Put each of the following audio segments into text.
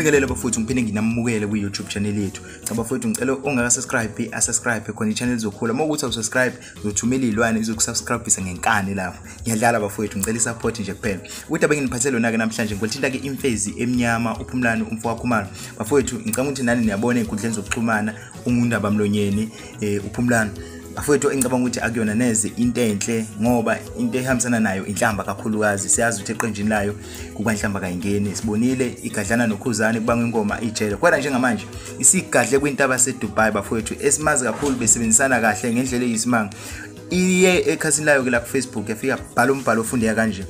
Ngibingelele bafowethu ngiphinde nginamukele kwi YouTube channel yethu. Cha bafowethu ngicela ongaka subscribe a subscribe khona i-channel izokhula. Uma ukuthi awusubscribe uzothumela izilwane izokusubscribisa ngenkani lapho. Ngiyadlala bafowethu ngicela i-support nje kuphela. Ukuthi abenginiphethele lona ke namhlanje ngolithinta ke imfezi emnyama uphumlani umfowakho Khumalo. Bafowethu ngicela ukuthi nani niyabona ezinkundleni zokuxhumana ungundaba mlonyeni eh uphumlani afowethu engicabanga ukuthi akuyona neze into enhle ngoba into ehambisana nayo inhlamba kakhulukazi siyazi ukuthi eqenjini layo kukwanhlamba kayingeni sibonile igadlana nokhuzane kubanga ingoma ijele kwena njengamanje isigadle kwintaba sedubai bafowethu esimazi kakhulu besebenzisana kahle ngendlela eyisimanga iye ekhasini layo ke la kufacebook yafika bhala umbhalo ofundeka kanje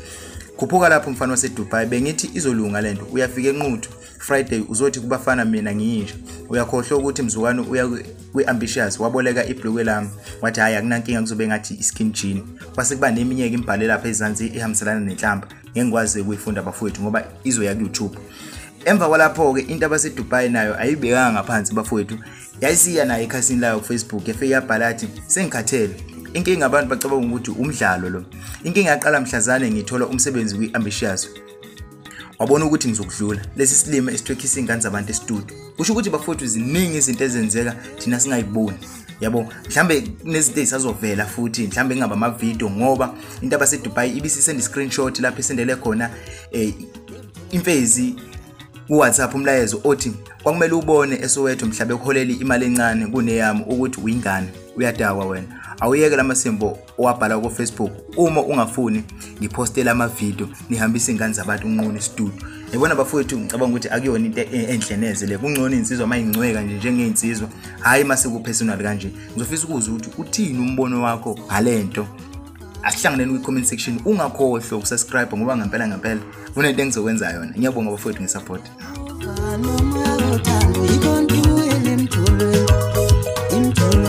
khuphuka lapho mfana wasedubai bengithi izolunga le nto uyafika enquthu Friday uzothi kubafana mina ngiyinja uyakhohlwa ukuthi mzukwane uya kwi-ambitious waboleka ibhulukwe lami wathi hhayi akunankinga kuzobe ngathi i-skin jean kwase kuba neminye ke imbhale lapha ezansi ihambiselana nenhlamba ngeke ngikwazi ukuyifunda bafowethu ngoba izoya ku-youtube emva kwalapho-ke into abasedubai nayo ayibekanga ngaphansi bafowethu yayisiya nayo ekhasini layo kufacebook yafike yabhala athi sengikhathele inkinga abantu bacabanga ukuthi umdlalo lo inkinga yaqala mhlazane ngithola umsebenzi kwi-ambitious wabona ukuthi ngizokudlula lesi silima esithwekhisa iy'ngane zabantu esitudio kusho ukuthi bafowethu ziningi izinto ezenzeka thina singayiboni yabo mhlambe kunezinto ezisazovela futhi mhlambe ingaba amavidiyo ngoba into abasedubai ibisisenda i-screenshot lapho isendele khona um imfezi kuwhatsapp umlayezo othi kwakumele ubone esowethu mhlabe kuholeli imali encane kuneyami ukuthi uyingane uyadakwa wena awuyeke la masimbo owabhala kofacebook uma ungafuni ngiphostele amavidiyo nihambise iy'ngane zabantu unquni studio yabona bafowethu ngicabanga ukuthi akuyona into e-, enhle neze le kungcono iy'nsizwa uma ingcweka nje njengey'nsizwa hhayi uma sekupersonal kanje ngizofisa ukuza ukuthi uthini umbono wakho ngale nto asihlanganeni kwi-comment section ungakhohlwa ukusubscribe ngoba ngempela ngempela kunento engizokwenza yona ngiyabonga bafowethu ngesupport